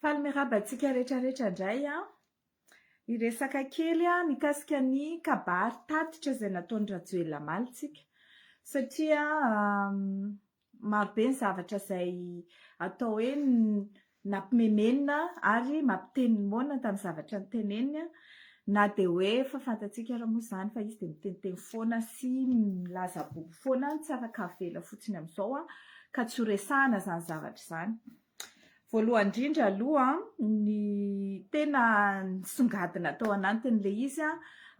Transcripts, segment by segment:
Faly miarahaba antsika rehetra rehetra indray an! Hiresaka kely aho mikasika ny kabary tatitra izay nataon'i Rajoelina omaly tsika satria maro be ny zavatra izay atao hoe nampimemenina ary mampiteny moana tamin'ny zavatra noteneniny an! Na dia hoe efa fantatsika ary moa izany fa izy dia miteniteny foana sy milaza bobo foana, ny tsara ka avela fotsiny amin'izao ka tsy ho resahana izany zavatra izany. Voalohany indrindra aloha, ny tena nisongadina tao anatin'ilay izy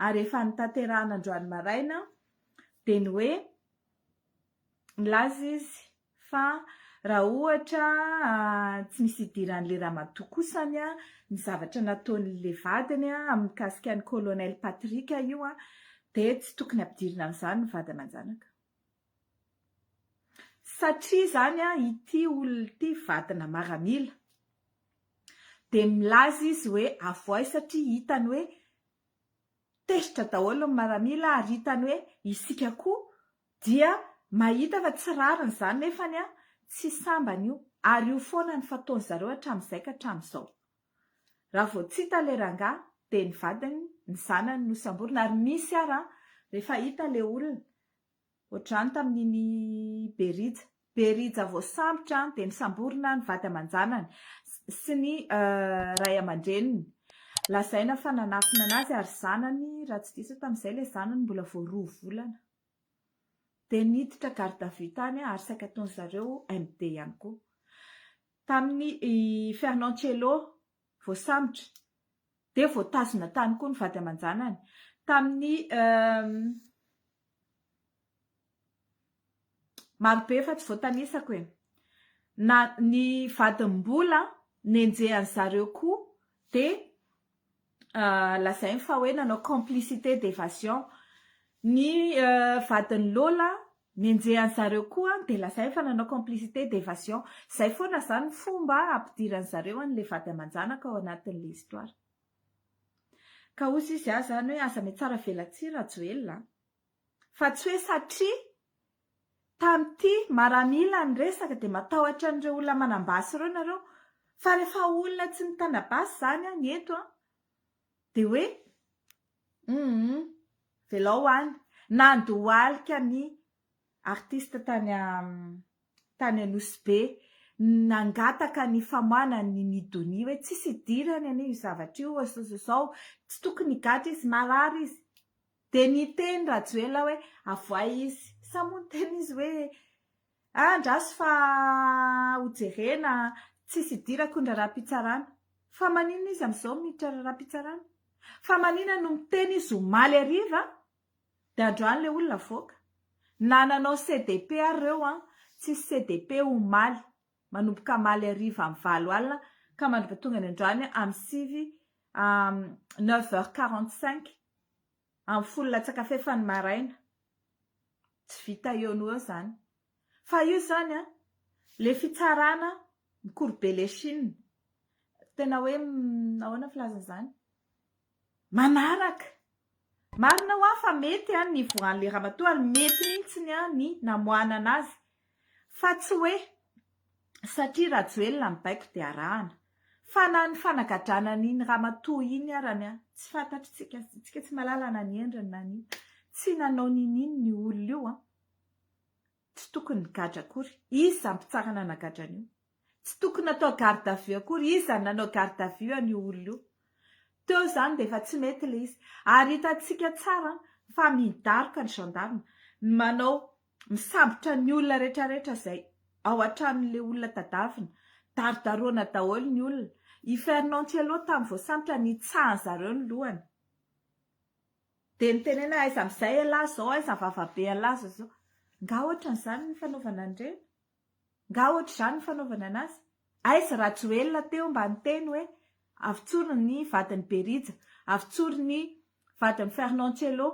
ary efa notanterahina androany maraina dia ny hoe nilaza izy Fa raha ohatra tsy misy idiran'le ramatoa kosa ny ny zavatra nataon'le vadiny amin'ny mikasika an'i Colonel Patrick io dia tsy tokony ampidirina amin'izany ny vady aman-janaka. Satria izany ity olona ity vadina maramila dia milaza izy hoe avoay satria hitany hoe tezitra daholo ny maramila ary hitany hoe isika koa Dia mahita fa tsy rariny izany nefany tsy sambany io ary io foana ny fataony zareo hatramin'izay ka hatramin'izao. Raha vao tsy hita ilay rangahy dia ny vadiny, ny zanany no samborina ary misy ary rehefa hita ilay olona ohatr'izany tamin'iny Berija, Berija voasambotra dia misamborina ny vady aman-janany sy ny ray aman-dreniny. Lazaina fa nanafina an'azy ary zanany raha tsy diso aho tamin'izay ilay zanany mbola vao roa volana. Dia niditra garde à vue tany ary saika ataon-dry zareo MD ihany koa. Tamin'ny i Fernand Cello, voasambotra, dia voatazona tany koa ny vady aman-janany. Tamin'ny marobe fa tsy voatanisako e! Na ny vadiny mbola nenjehan-dry zareo koa dia. lazainy fa hoe nanao complicité d'évasion ny vadin'i Lola nenjehan'i zareo koa dia lazainy fa nanao complicité d'évasion izay foana izany ny fomba ampidiran'i zareo an'ilay vady aman-janaka ao anatin'ilay histoire ka hozy izy aza izany hoe aza mihatsara velatsihy Rajoelina a! Fa tsy hoe satria tamin'ity maramila ny resaka dia matahotra an'ireo olona manam-basy ireo nareo. Fa rehefa olona tsy mitana basy izany an, ny eto an, dia hoe humm velao any. Nandohalika ny artiste tany tany Anosy Be, nangataka ny famoahana ny Ny Donia hoe tsisy idirany anie io zavatra io sao sao sao, tsy tokony higadra izy, marary izy. Dia niteny Rajoelina hoe avoay izy. Sa moa niteny izy hoe andraso fa hojerena, tsisy idirako ny raharaham-pitsarana. Fa maninona izy amin'izao miditra raharaham-pitsarana? Fa maninona no miteny izy omaly hariva dia androany ilay olona avoaka? Na nanao CDP ary ireo an, tsisy CDP omaly. manomboka hamaly hariva amin'ny valo alina ka mandroba tonga any androany amin'ny sivy neuf heures quarante cinq amin'ny folo latsaka fahefany maraina tsy vita eo no eo izany fa io izany an le fitsarana mikorobe le chine tena hoe ahoana filazana izany Manaraka. Marina hoa fa mety an ny voan'le ramatoa ary mety mintsiny an ny namoanana azy fa tsy hoe satria Rajoelina ny baiko dia arahana. Fa na ny fanagadrana an'iny ramatoa iny arany an tsy fantatritsika, tsika tsy malala na ny endriny na ny inona. Tsy nanao nini ny olona io an. Tsy tokony nigadra akory. Iza mpitsara nanagadra an'io? Tsy tokony natao garde à vue akory. Iza nanao garde à vue an'io olona io? Teo izany dia efa tsy mety ilay izy. Ary hitantsika tsara fa midaroka ny gendarme, manao, misambotra ny olona rehetra rehetra izay ao an-tranon'ilay olona tadavina. Darodaroana daholo ny olona. I Fernand Cielo tamin'ny voasambotra nitsaha an'izareo ny lohany. Dia nitenena aiza amin'izay ialahy izao, aiza ny vavabe ialahy izao izao. Angaha ohatran'izany ny fanaovana an'ireny? Angaha ohatr'izany ny fanaovana an'azy? Aiza Rajoelina teo mba niteny hoe avotsory ny vadin'i Berija, avotsory ny vadin'i Fernand Cello?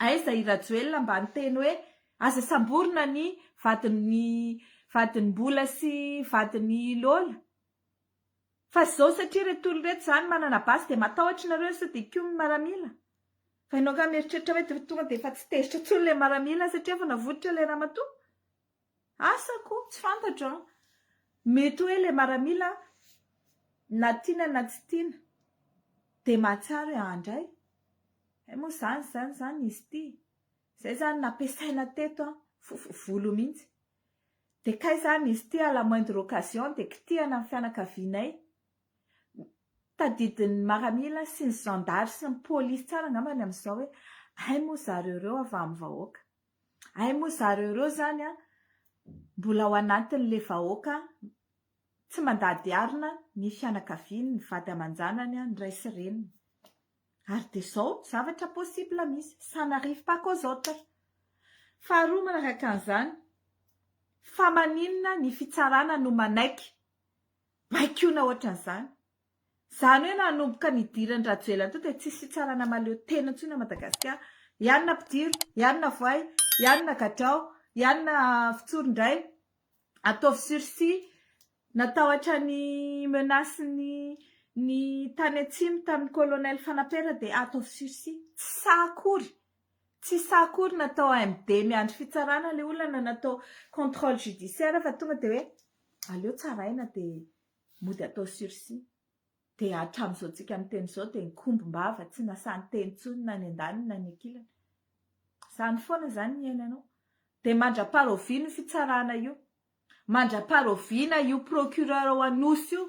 Aiza i Rajoelina mba niteny hoe aza samborina ny vadin'i vadin'i Mbola sy vadin'i Lola? Fa zao satria reto olona reto zany manana base dia matahotra nareo sao dia koa mimaramila? Fa enao nga mieritreritra hoe de tonga de efa tsy tezitra tsony le maramila satria efa navoitra le ramatoa? Asa ko tsy fantatro an! Mety hoe le maramila na tiana na tsy tiana de mahatsiaro i andray hay moa zany zany zany izy ty? Zay zany nampiasaina teto an! Vovo volo mihintsy! Dia kay izany izy ity à la moindre occasion dia kitihana ny fianakavianay. Tadidin'ny maramila sy ny zandary sy ny polisy tsara angambany amin'izao hoe hay moa zareo ireo ava amin'ny vahoaka. Hay moa zareo ireo izany mbola ao anatin'ilay vahoaka tsy mandady arina ny fianakaviany, ny vady aman-janany, ny ray sy reniny. Ary dia izao zavatra possible misy, ça n'arrive pas qu'aux autres. Faharoa manaraka an'izany, fa maninona ny fitsarana no manaiky baikona ohatran'izany? Izany hoe nanomboka nidiran'i Rajoelina teo dia tsisy fitsarana mahaleo tena intsony ao Madagasikara. I anona mpidiro, i anona voay, i anona gadrao, i anona fitsoro indray. Ataovy sursis. Natahotra ny menace ny ny tany atsimo tamin'ny colonel fanapera dia ataovy sursis. Tsy sahy akory. Tsy sahy akory natao MD miandry fitsarana ilay olona na natao controle judiciaire fa tonga dia hoe aleo tsaraina dia mody atao sursis. Dia hatramin'izao tsika miteny izao dia nikombom-bava tsy nasahy niteny intsony na ny andaniny na ny ankilany. Izany foana izany ny iainanao. Dia mandrapara oviana io fitsarana io? Mandrapara oviana io procureur ao Anosy io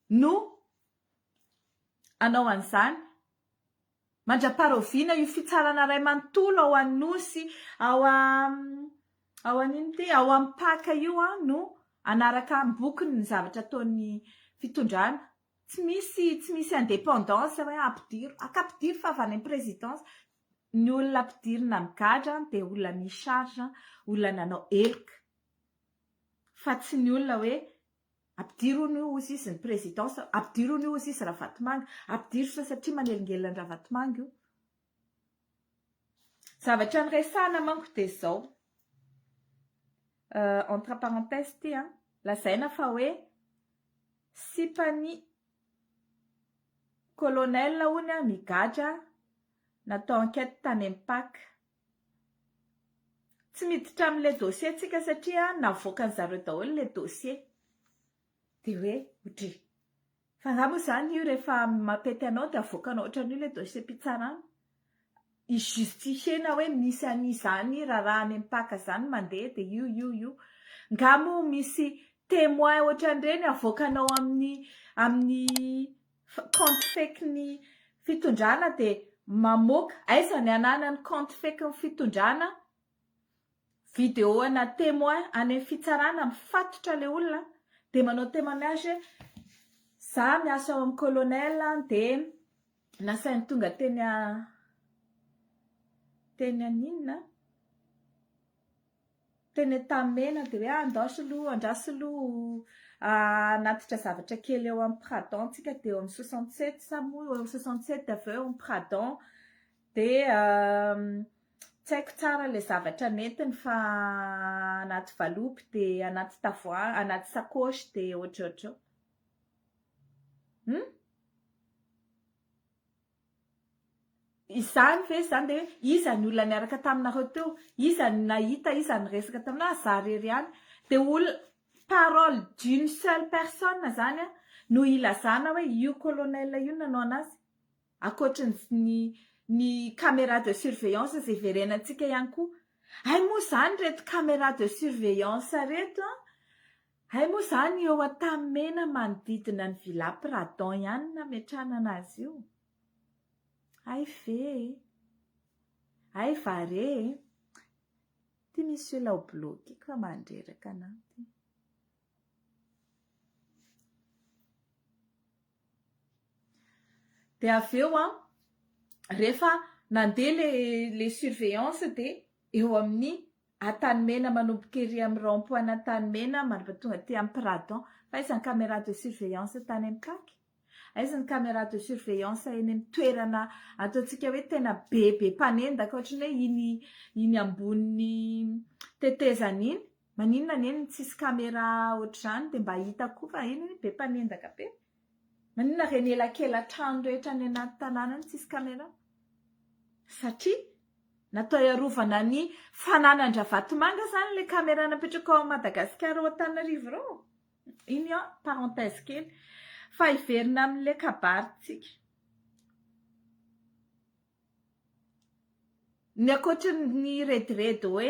no hanao an'izany? Mandraparaoviana io fitsarana ray manontolo ao Anosy ao ao an ino ty ao Ampaka io an no anaraka ambokony ny zavatra ataon'ny fitondrana. Tsy misy tsy misy indépendance hoe ampidiro. Aka ampidiro fa avy any présidence. Ny olona ampidirina migadra an dia olona mi charge olona nanao heloka fa tsy ny olona hoe Ampidiro hono io hozy izy ny présidence, ampidiro hono io hozy izy Ravatomanga, ampidiro sa satria manelingelina an'i Ravatomanga io. Zavatra niresahana manko dia izao, entre parenthèse ity an, lazaina fa hoe sipan'ny colonel hono migadra natao enquête tany Mpac. Tsy miditra amin'ilay dossier ntsika satria navoakan'ny zareo daholo ilay dossier. Dia hoe ohatry ny, fa angaha moa izany io rehefa mampety anao dia avoakanao ohatran'io ilay dossier-pitsarana? Hi-justifier-na hoe misy an'izany raharaha any am-paka izany mandeha dia io io io. Angaha moa misy témoin ohatran'ireny avoakanao amin'ny amin'ny compte fake ny fitondrana de mamoaka aiza ny ananany compte fake ny fitondrana video ana temoin any fitsarana mifatotra le olona de manao temoignage hoe za miasa ao am colonel de nasainy tonga teny teny aninona Teny Antanimena dia hoe ah ndao soloa, andraso soloa hanatitra zavatra kely eo amin'ny pradon tsika dia eo amin'ny soixante sept sa moa eo amin'ny soixante sept avy eo eo amin'ny pradon dia tsy haiko tsara ilay zavatra nentiny fa anaty valopy dia anaty tavoahangy anaty sacoche dia ohatrohatro eo hum Izany ve izany dia hoe iza ny olona niaraka taminareo teo? Iza no nahita? Iza no niresaka taminao? Za irery ihany? Dia olona, parole d'une seule personne izany no hilazana hoe io colonel io nanao an'azy? Ankoatry ny ny camera de surveillance izay hiverenantsika ihany koa. Hay moa izany ireto camera de surveillance ireto an! Hay moa izany eo Antanimena manodidina ny Villa Pradon ihany no nametrahana azy io? Hay ve e! Hay va re e! Ty misy olona ho bloquer ka mandreraka anao ty. Dia avy eo an, rehefa nandeha le le surveillance dia eo amin'ny Antanimena, Manomboka ery amin'ny rond point Antanimena mandritra tonga aty amin'ny Pradon. Fa aiza ny caméra de surveillance tany amin'ny CAC? Aiza ny caméra de surveillance eny amin'ny toerana ataontsika hoe tena bebe mpanendaka ohatry ny hoe iny iny ambonin'ny tetezana iny? Maninona anie no tsisy caméra ohatr'izany dia mba hita koa fa eny be mpanendaka be? Maninona reny elakela trano rehetra any anaty tanàna any tsisy caméra? Satria natao hiarovana ny fananan-dRavatomanga zany le caméra napetraka ao Madagasikara ao Antananarivo ireo? Iny an, parenthèse kely fa hiverina amin'le kabary tsika. Ny ankoatra ny rediredy hoe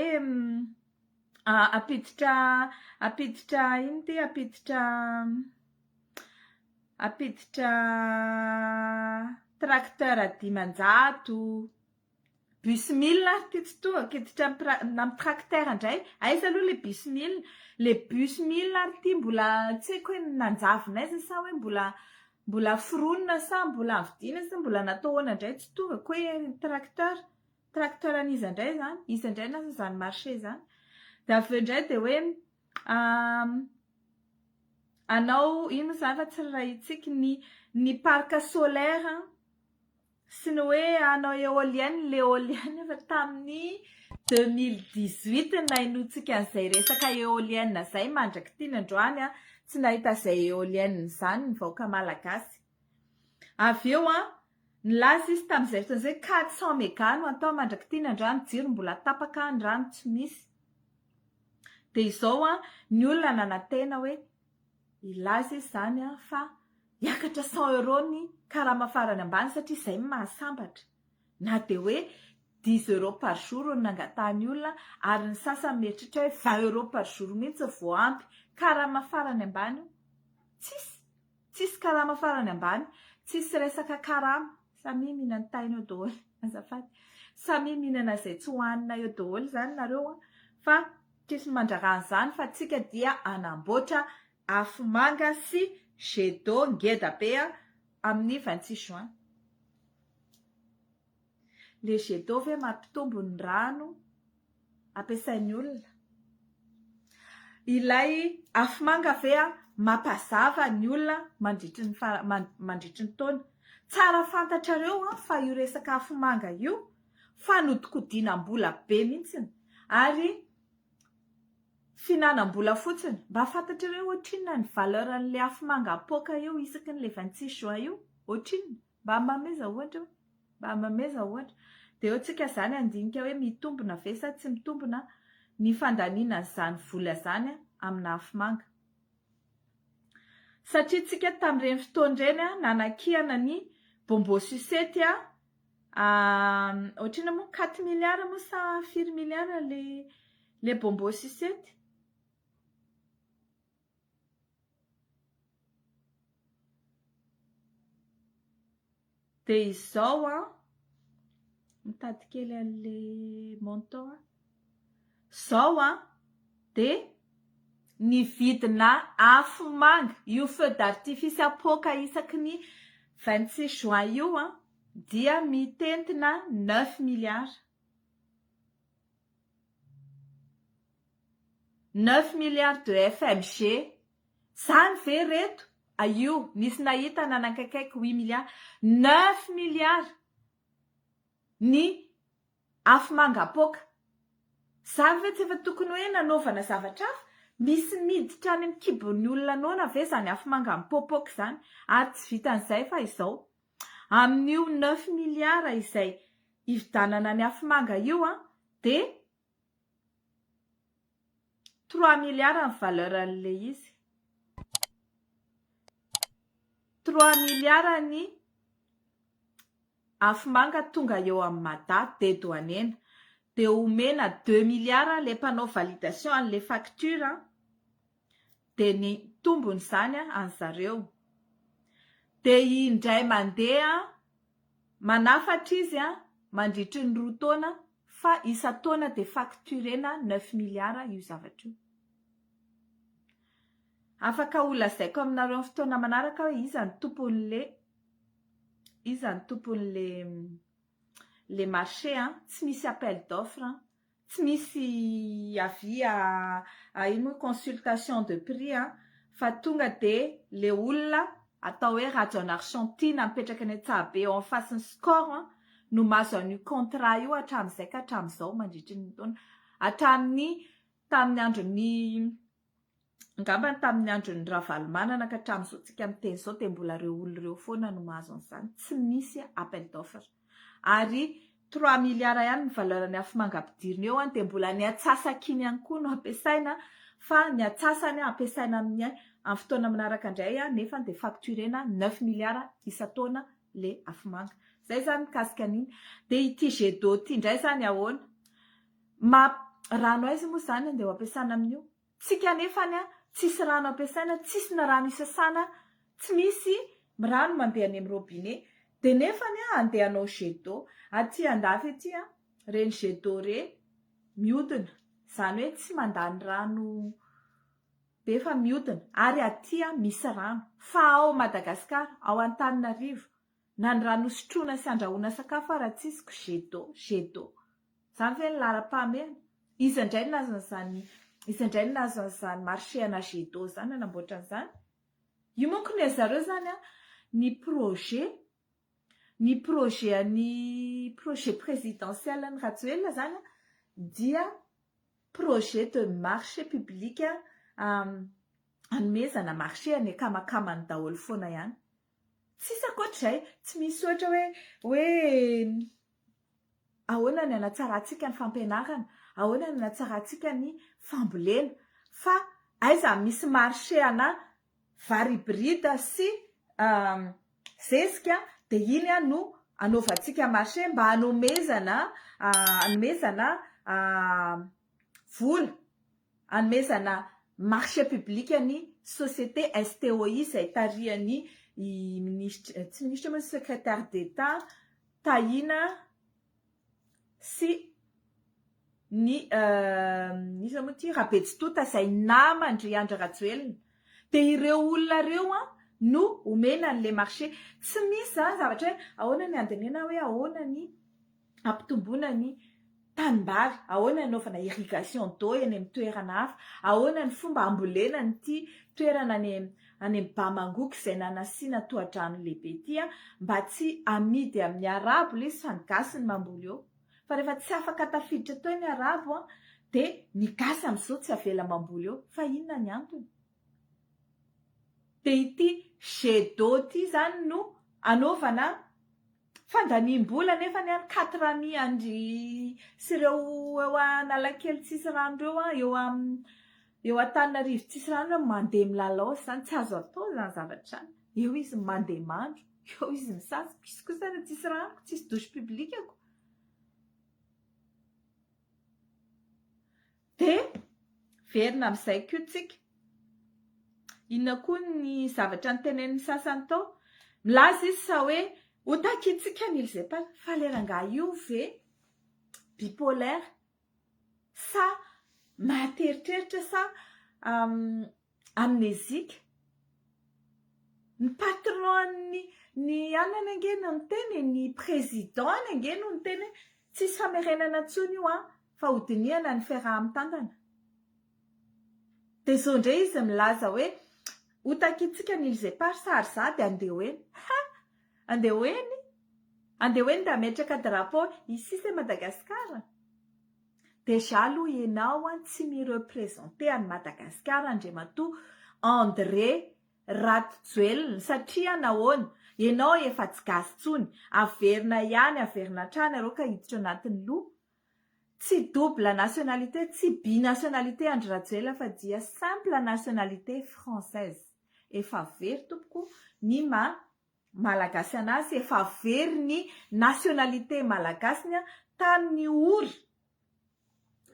hampiditra hampiditra inona ity hampiditra hampiditra tracteur dimanjato, bus mille ary ity tsy tohako, hiditra amin'ny tracteur indray, aiza aloha ilay bus mille? Ilay bus mille ary ity mbola tsy haiko hoe nanjavona aiza sa hoe mbola Mbola foronina sa mbola vidiana sa mbola natao ahoana indray tsy tonga koa e ny tracteur, tracteur an'iza indray izany, iza indray no izany marché izany? dia avy eo indray dia hoe hanao ino moa izany raha tsy rarahitsiky ny ny parc solaire Tsy ny hoe hanao eolienne ny eolienne fa tamin'ny deux mille dix huit no nahenoantsika an'izay resaka eolienne izay mandrak'ity ny androany tsy nahita an'izay eolienne izany ny vahoaka malagasy. Avy eo an, nilaza izy tamin'izay fotoana izay quatre cent mega no atao mandrak'ity ny androany, ny jiro mbola tapaka, ny rano tsy misy. Dia izao an, ny olona nanantena hoe. Hilaza izy izany fa hiakatra cent euros ny karama farany ambany satria izay no mahasambatra. Na dia hoe dix euros par jour no nangatahan'ny olona ary ny sasany mieritreritra hoe vingt euros par jour mihitsy vao ampy. Karama farany ambany io? Tsisy! Tsisy karama farany ambany. Tsisy resaka karama. Samia mihinan-taina eo daholo. Azafady. Samia mihinana izay tsy hohanina eo daholo izany nareo fa Tissy mandrara an'izany fa tsika dia anamboatra afomanga sy jet d'eau ngeda be a amin'ny vingt six juin. Le jet d'eau ve mampitombo ny rano ampiasain'ny olona? Ilay afomanga ve a mampazava ny olona mandritry ny mandritry ny taona? Tsara fantatrareo an fa io resaka afomanga io fanodikodinam-bola be mihitsiny ary fihinanam-bola fotsiny. Mba fantatrareo hoe ohatrinona ny valeur an'ilay afomanga apoaka eo isaky ny le 26 juin io? Ohatrinona? Mba mameza ohatra eo. Mba mameza ohatra. Dia eo tsika izany handinika hoe mitombina ve sa tsy mitombina ny fandaniana an'izany vola izany amina afomanga. Satria tsika tamin'ireny fotoana ireny a, nanakiana ny bonbon sucette a, ohatrina moa quatre milliards moa sa firy milliards ilay ilay bonbon sucette? Dia izao an, mitady kely an'le montant aho. Izao an, dia ny vidina afomanga io feu d'artifice apoaka isaky ny vingt six juin io an, dia mitentina neuf milliards. Neuf milliards de FMG, zany ve reto? Aio, nisy nahita nanaikaikaiky huit milliards. Neuf milliards ny afomanga apoaka. Zany ve tsy efa tokony hoe nanaovana zavatra hafa? Misy miditra any amin'ny kibon'ny olona noana ve zany afomanga mipoapoaka zany? Ary tsy vitan'izay fa izao, amin'io neuf milliards izay hividanana ny afomanga io dia Trois milliards ny valeur an'ilay izy. Trois milliards ny afomanga tonga eo amin'i Mada dedouanena. Dia omena deux milliards ilay mpanao validation an'ilay facture. dia ny tombony izany any zareo dia indray mandeha manafatra izy mandritry ny roa taona fa isan-taona dia facturena neuf milliards io zavatra io. Afaka ho lazaiko aminareo amin'ny fotoana manaraka hoe iza ny tompon'le iza ny tompon'le le marché an, tsy misy appel d'offre an, Tsy misy avis à à ino moa consultation de prix an, fa tonga dia le olona atao hoe Rajaonarison Tiana mipetraka any Antsahabe eo am face ny Score an, no mahazo an'io contrat io hatramin'izay ka hatramin'izao mandritry ny taona hatramin'ny tamin'ny andron'ny Angamba ny tamin'ny andron'i Ravalomanana ka hatramin'izao tsika miteny izao dia mbola ireo olona ireo foana no mahazo an'izany. Tsy misy appel d'offre. Ary trois milliards ihany ny valeur ny afomanga ampidirina eo dia mbola ny atsasak'iny ihany koa no ampiasaina fa ny atsasany ampiasaina amin'ny amin'ny fotoana manaraka indray nefa dia facturena neuf milliards isan-taona le afomanga. Izay izany mikasika an'iny. Dia ity jet d'eau ity indray izany ahoana? Map rano aiza moa izany andeha ho ampiasana amin'io? Tsika anefa any tsisy rano ampiasaina tsisy na rano isasana tsy misy rano mandeha any amin'ny robinet dia nefa ny andeha hanao jet d'eau aty andafy aty an reny jet d'eau re miodina izany hoe tsy mandany rano be fa miodina ary aty an misy rano fa ao Madagascar ao Antananarivo Na ny rano hosotroina sy andrahoana sakafo ara tsy izy ko jet d'eau, jet d'eau. Zany ve ny laharam-pahamehana? Iza indray no nahazo an'izany, iza indray no nahazo an'izany marché ana jet d'eau zany nanamboatra an'izany? Io manko ny an'zareo zany an, ny projet, ny projet an'i, projet présidentiel an'i Rajoelina zany an, dia projet de marché public, hanomezana marché any akamakama'ny daholo foana ihany. Tsisy ankoatr'izay, tsy misy ohatra hoe hoe ahoana ny hanatsarantsika ny fampianarana, ahoana ny hanatsarantsika ny fambolena, fa aiza misy marché ana vary hybride sy zezika dia iny no anaovantsika marché mba hanomezana hanomezana vola. hanomezana marché public ny société STOI izay tarihan'ny minisitra, tsy minisitra moa, secrétaire d'Etat Tahina sy ny iza moa ity, Rabetsitota izay naman-dry Andry Rajoelina. Dia ireo olona ireo no omena an'ilay marché. Tsy misy izany zavatra hoe ahoana ny handinihana hoe ahoana ny. Ampitomboina ny tanimbary, ahoana hanaovana irrigation d'eau eny amin'ny toerana hafa, ahoana ny fomba hambolena an'ity toerana any any amin'ny Bamangoko izay nanasiana tohadrano lehibe ity mba tsy hamidy amin'ny arabo ilay izy fa ny gasy no mamboly eo fa rehefa tsy afaka tafiditra teo ny arabo dia ny gasy amin'izao tsy avela mamboly eo fa inona ny antony? Dia ity jet d'eau ity izany no hanaovana Fandaniam-bola anefany an, quatre amis an-dry sy ireo eo Analakely tsisy rano ireo an, eo eo Antananarivo tsisy rano ireo mandeha milalao izany, tsy azo atao izany zavatra izany, eo izy mandeha mandro, eo izy misasa, izy kosa raha tsisy rano, tsisy douche public-ko. Dia verina amin'izay koa tsika. Inona koa ny zavatra notenenin'ny sasany tao? Milaza izy sa hoe ho takintsika ny ilzepal fa le rangahy io ve bipolaire sa mahateritreritra sa Amnésique? Ny patron ny ny anany ange no niteny e, ny président ny ange no niteny hoe tsisy famerenana intsony io an, fa ho dinihana ny fiaraha-mitantana. Dia zao indray izy milaza hoe ho takintsika ny îles éparses ary za dia andeha ho eny. Ha! Andeha ho eny? Andeha ho eny dia hametraka drapeau ici c'est Madagascar? Déjà aloha ianao an tsy mi representer an'i Madagasikara Andriamatoa André Ratojoelina satria nahoana? Ianao efa tsy gasy intsony, averina ihany averina hatrany iareo ka hiditra anatin'ny loha. Tsy double nationalité, tsy binationalité Andry Rajoelina fa dia simple nationalité française. Efa very tompoko ny maha Malagasy an'asy efa very ny nationalité malagasiny tamin'ny ory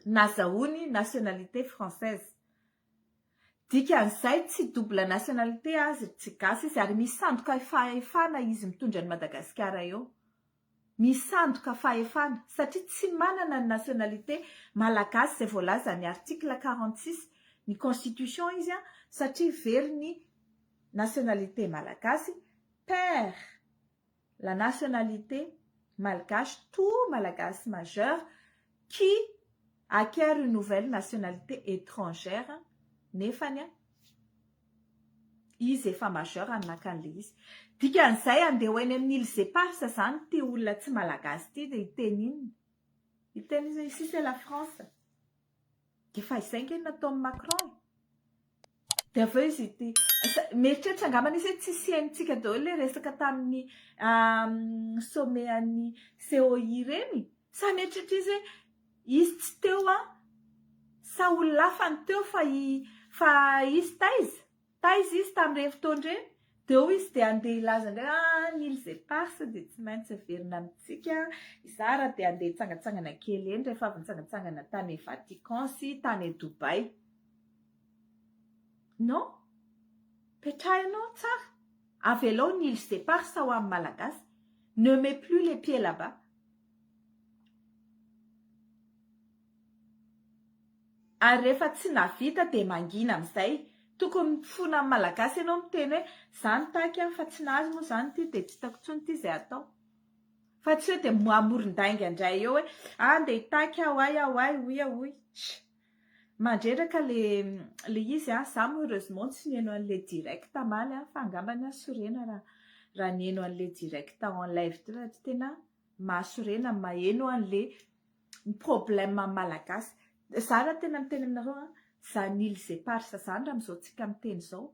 nazahoany nationalité française. Dikan'izay tsy double nationalité azy ry tsy gasy izy ary misy sandoka fahefana izy mitondra an'i Madagasikara eo. misandoka fahefana satria tsy manana ny nationalité Malagasy izay voalazan'ny article quarante six ny constitution izy an satria very ny nationalité Malagasy perd la nationalité Malgache tout Malagasy majeur qui acquiert une nouvelle nationalité étrangère nefany an Izy efa majeur no naka an'ilay izy. Dikan'izay andeha ho eny amin'ny îles éparses izany ity olona tsy malagasy ity dia hiteny inona? Hiteny inona? Ici c'est la France. Dia efa izay ange no nataon'i Macron e. Dia avy eo izy ity. Mieritreritra angambany izy hoe tsy hisiantsika daholo ilay resaka tamin'ny sommet an'i COI ireny. Sa mieritreritra izy hoe. Izy tsy teo an! Sa ololafany teo fa i fa izy taiza? Taiza izy tamin'ireny fotoana ireny? Dia hoy izy dia handeha hilaza indray ah ny îles éparses dia tsy maintsy averina amintsika izaho raha te handeha hitsangantsangana kely eny rehefa avy nitsangantsangana tany Vatican sy tany Dubaï. Non? Petrahinao tsara! Avelao ny îles éparses ho an'ny Malagasy. Ne mets plus les pieds là-bas. Ary rehefa tsy navita dia mangina amizay. Tokony mifona amin'ny malagasy ianao miteny hoe za nitaky an fa tsy nahazo moa zany ity dia tsy hitako intsony ity izay hatao. Fa tsy hoe dia mamoron-dainga indray eo hoe a ndeha hitaky aho ay aho ay hoy aho hoy. Tsia. Mandreraka le le izy an. Za moa heureusement tsy niheno anle direct hamaly an fa angambany aho sorena raha raha niheno anle direct en live teo raha tena Mahasorena maheno an le ny problème am malagasy za ra tena miteny aminareo an zany îles éparses zany ra amzao tsika miteny zao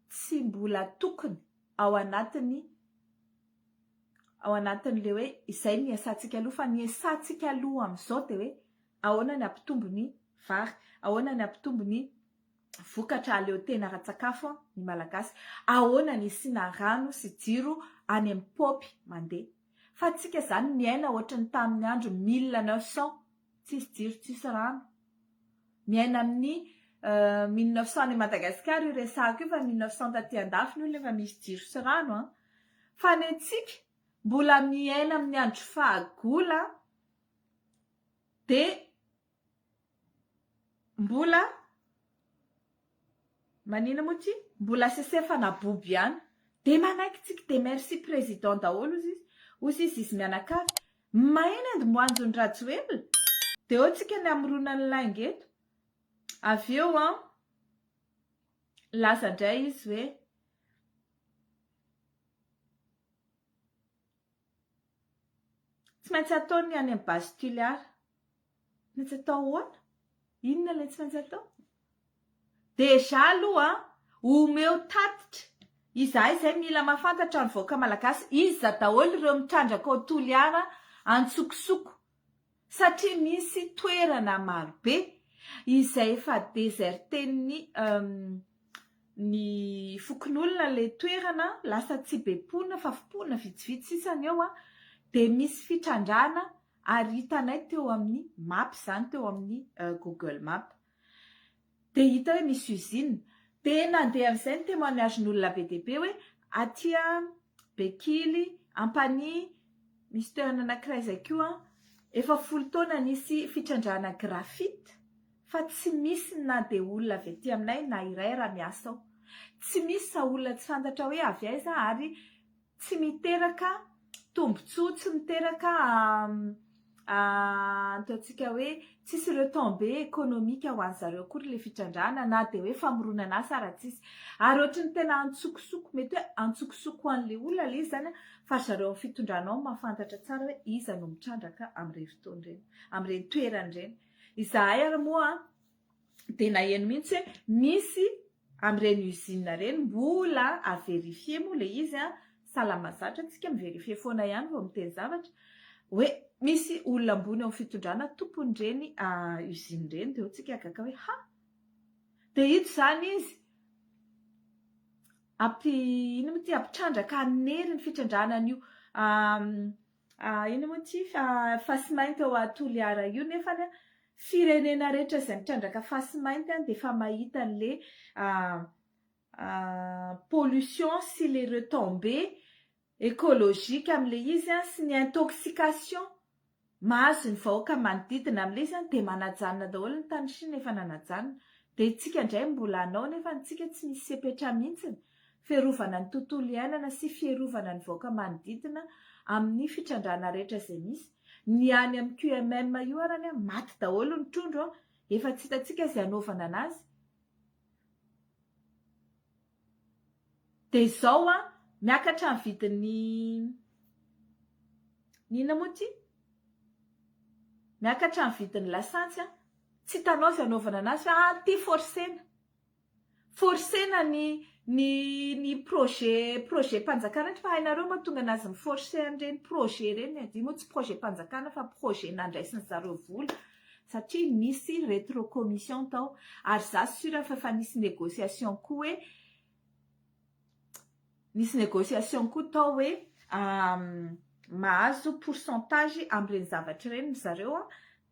tsy mbola tokony ao anatiny ao anatiny le hoe izay ny iasantsika aloha fa ny iasantsika aloha amzao de hoe ahoana ny ampitombo ny vary ahoana ny ampitombo ny vokatra aleo tena ara-tsakafo ny Malagasy. Ahoana ny hisiana rano sy jiro any amin'ny paopy mandeha. Fa antsika izany miaina ohatry ny tamin'ny andro 1900, tsisy jiro tsisy rano. Miaina amin'ny 1900 any Madagasikara io resahako io fa 1900 taty an-dafy ny olona efa misy jiro sy rano an. Fa ny antsika mbola miaina amin'ny andro fahagola dia Mbola manina moa ty? Mbola sesefana bobo ihany. Dia manaiky tsiky dia merci président daholo ozy izy. Ozy izy izy mianakavy. Maheno and moanjo ny rajoelina. Dia eo tsika ny hamorona ny lainga eto. Avy eo an, milaza indray izy hoe. Tsy maintsy atao ny any amin'ny base Tuliar. Tsy maintsy atao ahoana? Inona ilay tsy maintsy atao? Déjà aloha omeo tatitra, izahay izay mila mahafantatra ny vahoaka malagasy, iza daholo ireo mitrandraka ao Toliara antsokosoko? Satria misy toerana marobe izay efa deserten'ny ny fokonolona ilay toerana, lasa tsy be mponina fa mponina vitsivitsy sisa ny eo, dia misy fitrandrahana ary hitanay teo amin'ny mapa izany, teo amin'ny google mapa. Dia hita hoe misy usine. Dia nandeha amin'izay ny témoignage-n'olona be dia be hoe aty Bekily, Ampanihy, misy toerana anankiray izay koa efa folo taona nisy fitrandrahana graphite fa tsy misy na dia olona avy aty aminay na iray raha miasa ao. Tsy misy fa olona tsy fantatra hoe avy aiza ary tsy miteraka tombontsoa, tsy miteraka ataontsika hoe tsisy retombé économique ho an'zareo akory ilay fitrandrahana na dia hoe famoronana asa ary tsisy ary ohatry ny tena antsokosoko mety hoe antsokosoko ho an'ilay olona ilay izy izany fa zareo amin'ny fitondrana ao mahafantatra tsara hoe iza no mitrandraka amin'ireny fotoana ireny, amin'ireny toerana ireny, izahay ary moa dia naheno mihitsy hoe misy amin'ireny usine ireny mbola à vérifier moa ilay izy an, salama zatra tsika mi vérifier foana ihany vao miteny zavatra, hoe misy olona ambony ao fitondrana tompon'ireny usine ireny dia hotsika gaga hoe ha! dia ito izany izy ampi ino moa ity ampitrandraka hanery ny fitrandrahana an'io Ahh ino moa ity face mainty ao a Toliara io nefany a firenena rehetra izay mitrandraka face mainty any dia efa mahita anle pollution sy le retombé ecologique amle izy a sy ny intoxication mahazo ny vahoaka manodidina amle izy any dia manajanona daholo ny tany Chine efa nanajanona dia itsika indray mbola anao nefany itsika tsy misy sepetra mihintsiny Fiarovana ny tontolo iainana sy fierovana ny vaoka manodidina amin'ny fitrandrahana rehetra izay misy, ny any amin'ny QMM io arany an, maty daholo ny trondro an, efa tsy hitantsika izay hanaovana anazy, dia izao an, miakatra ny vidin'ny, ny inona moa ity? miakatra ny vidin'ny lasantsy an, tsy hitanao izay hanaovana anazy fa an, ity forcena, Forcena ny ny ny projet projet-panjakana ity fa hainareo mahatonga anazy mi-forcer an'ireny projet ireny e! Io moa tsy projet-panjakana fa projet nandraisin'ny zareo vola satria nisy retrocommission tao ary za sure fa efa nisy negociation koa hoe nisy négociation koa tao hoe mahazo pourcentage amin'ireny zavatra ireny ry zareo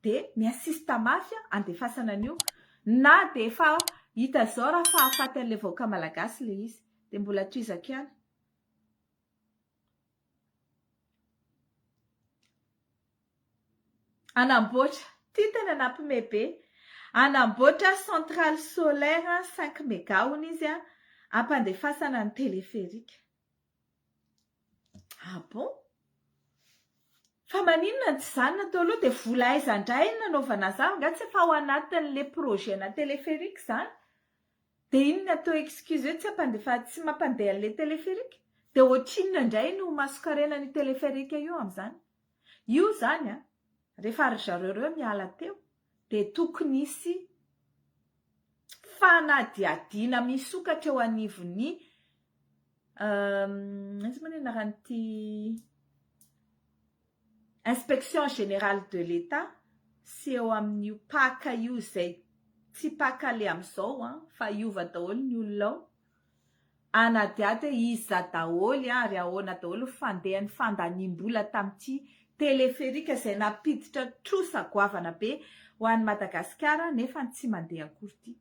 dia mi assiste mafy handefasana an'io na dia efa hita izao raha fahafaty an'ilay vahoaka malagasy ilay izy dia mbola tohizako ihany. Hanamboatra, ity tena nampime be, hanamboatra centrale solaire cinq mega hono izy hampandefasana ny téléphérique. Ah bon? Fa maninona no tsy zanona teo aloha dia vola aiza indray no nanaovana izany? Angaha tsy efa ao anatin'ilay projet ana téléphérique izany? Dia inona teo excuse hoe tsy hampandefa tsy mampandeha an'ilay téléphérique? Dia ohatrinona indray no mason-karena an'io téléphérique io amin'izany? Io zany a, rehefa ry zareo reo miala teo dia tokony hisy fanadihadiana misokatra eo anivon'ny aiza moa ny anaran'ity inspection générale de l'Etat sy eo amin'io paka io izay tsy paka le amin'izao an, fa hiova daholo ny olona ao. Anadihady hoe iza daholo ary ahoana daholo ny fandehan'ny fandaniam-bola tamin'ity teleferika izay nampiditra trosa goavana be ho an'i Madagasikara nefa ny tsy mandeha akory ity.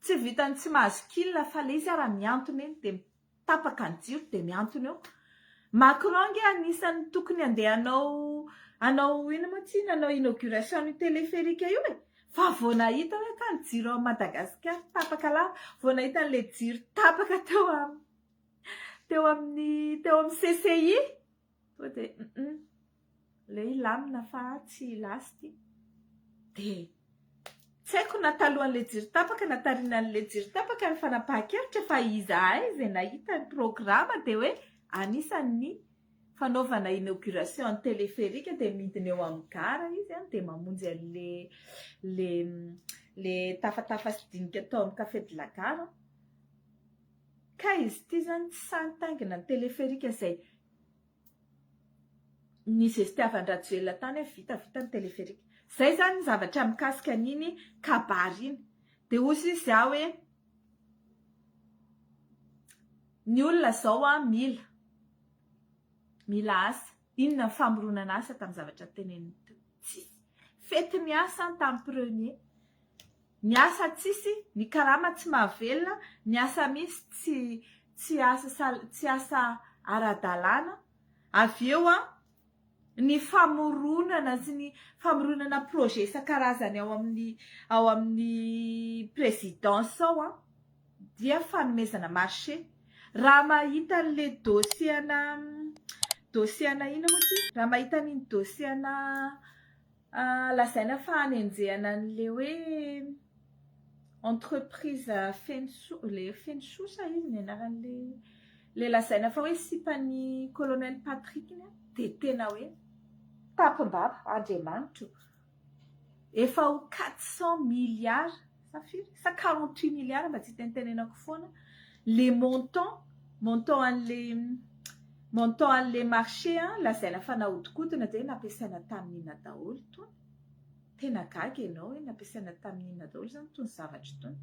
Tsy vitan'ny tsy mahazo kil fa le izy ara mihantona eny dia tapaka ny jiro dia mihantona eo. Macron ange anisan'ny tokony andeha hanao hanao ino moa tsy nanao inauguration io téléphérique io e. Fa vao nahita hoe ka ny jiro ao Madagasikara tapaka lava, vao nahita an'ilay jiro tapaka teo amin'ny teo amin'ny teo amin'ny CCI. Tonga dia hum ilay hoe lamina fa tsy lasty dia tsy haiko na talohan'ilay jiro tapaka na taorianan'ilay jiro tapaka ny fanapahan-kevitra fa izahay izay nahita ny programa dia hoe anisan'ny fanaovana inauguration ny téléphérique dia midina eo amin'ny gara izy dia mamonjy an'ilay ilay ilay tafatafa sy dinika tao amin'ny café de la gare an! Kay izy ity zany tsy sahy nitaingina ny téléphérique izay nizestiavan-dRajoelina tany hoe vita vita ny téléphérique. Izay izany ny zavatra mikasika an'iny kabary iny. Dia hoy sisa izy aho hoe ny olona izao mila mila asa. Inona ny famoronana asa tamin'ny zavatra teneniny teo? Tsisy. Fety ny asa tamin'ny premier. Ny asa tsisy, ny karama tsy mahavelona, ny asa mihitsy tsy tsy asa sal tsy asa ara-dalàna. Avy eo an, ny famoronana sy ny famoronana projet isan-karazany ao amin'ny ao amin'ny présidence ao an, dia fanomezana marché. Raha mahita an'le dossier ana dossier ana inona moa ty? Raha mahita an'iny dossier ana Ah, lazaina fa hanenjehana an'le hoe entreprise Fenso, le Fenso sa izy ny anaran'le le lazaina fa hoe sipan'i Colonel Patrick iny an, dia tena hoe tapim-bava, Andriamanitro, efa ho quatre cent milliards. sa firy sa quarante huit milliards mba tsy hitentenenako foana le montant montant an'le montant an'le marché a lazaina fa nahodikodina dia nampiasaina tamin'ny inona daholo tony tena gaga ianao hoe nampiasaina tamin'ny inona daholo zany tony zavatra itony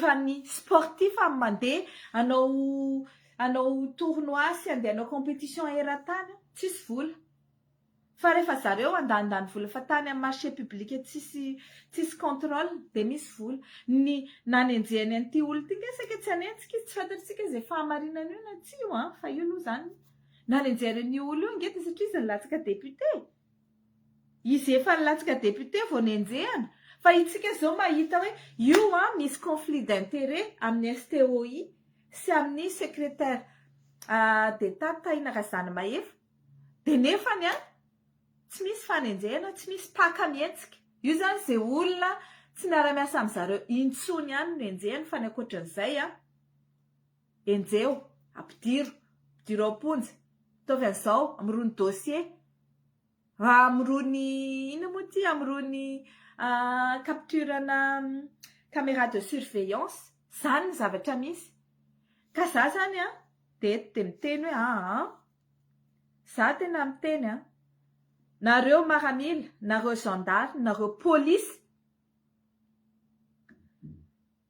fa ny sportif amin'ny mandeha anao anao tournoi sy andeha anao compétition eran-tany tsisy vola Fa refa zareo andanindany vola fa tany am marché public tsisy tsisy controle de misy vola. Ny nanenjehany an'ity olona ity nge saika tsy hanenjika izy tsy fantatritsika ze fahamarinany io na tsia io an fa io aloha zany nanenjehany an'io olona io ange de satria izy nilatsaka député izy efa nilatsaka député vao nenjehana fa itsika zao mahita hoe io an misy conflit d'intérêt amin'ny STOI sy amin'ny secrétaire d'Etat Tahina Razanamahefa Dia nefany an! tsy misy fanenjehana, tsy misy mpaka mihetsika. Io izany izay olona tsy miara-miasa amin-dry zareo intsony ihany no enjehiny fa ny ankoatran'izay an! enjeho, ampidiro, ampidiro ao am-ponja. Ataovy an'izao, amorono dossier, amorono inona moa ity, amorono capture ana camera de surveillance. Izany ny zavatra misy. Ka izaho izany an! dia eto dia miteny hoe aa! Za tena miteny an! Nareo maramila, nareo zandary, nareo polisy,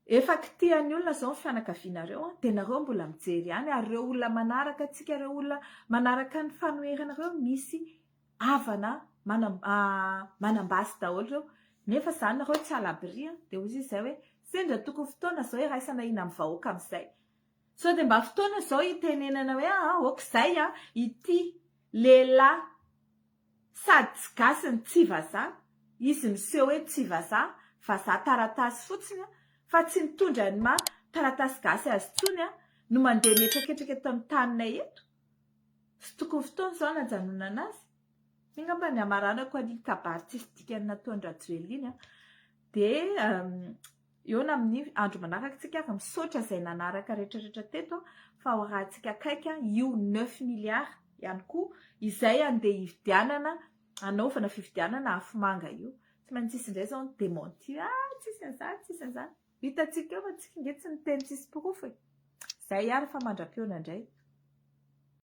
efa kitihan'ny olona izao ny fianakavianareo an! Dia nareo mbola mijery ihany ary ireo olona manaraka antsika, ireo olona manaraka ny fanoherana ireo misy havana manam-basy daholo ireo nefa za nareo tsy à l'abri an! Dia hoy izy izay hoe sendra tokony fotoana izao iraisana hina amin'ny vahoaka amin'izay. Sao dia mba fotoana izao hitenenana hoe aa ok izay an, ity lehilahy sady tsy gasy no tsy vazaha, izy miseho hoe tsy vazaha, vazaha taratasy fotsiny an, fa tsy mitondra ny maha taratasy gasy azy intsony an, no mandeha mihetraketraka eto amin'ny taninay eto? Tsy tokony fotoana izao hanajanonana azy? Iny angamba ny hamaranako an'iny kabary tsisy dikany nataon-dRajoelina iny an, dia Eona amin'ny andro manaraka tsika ary misaotra izay nanaraka retraretra teto fa ho arahantsika akaiky io neuf milliards ihany koa izay andeha hividianana hanaovana fividianana afomanga io. Tsy maintsy hisy indray izao ny dementir ah tsisy an'izany tsisy an'izany. Hitantsika eo fa tsika nge tsy niteny tsisy porofo e. Izay ary fa mandra-pihaona indray.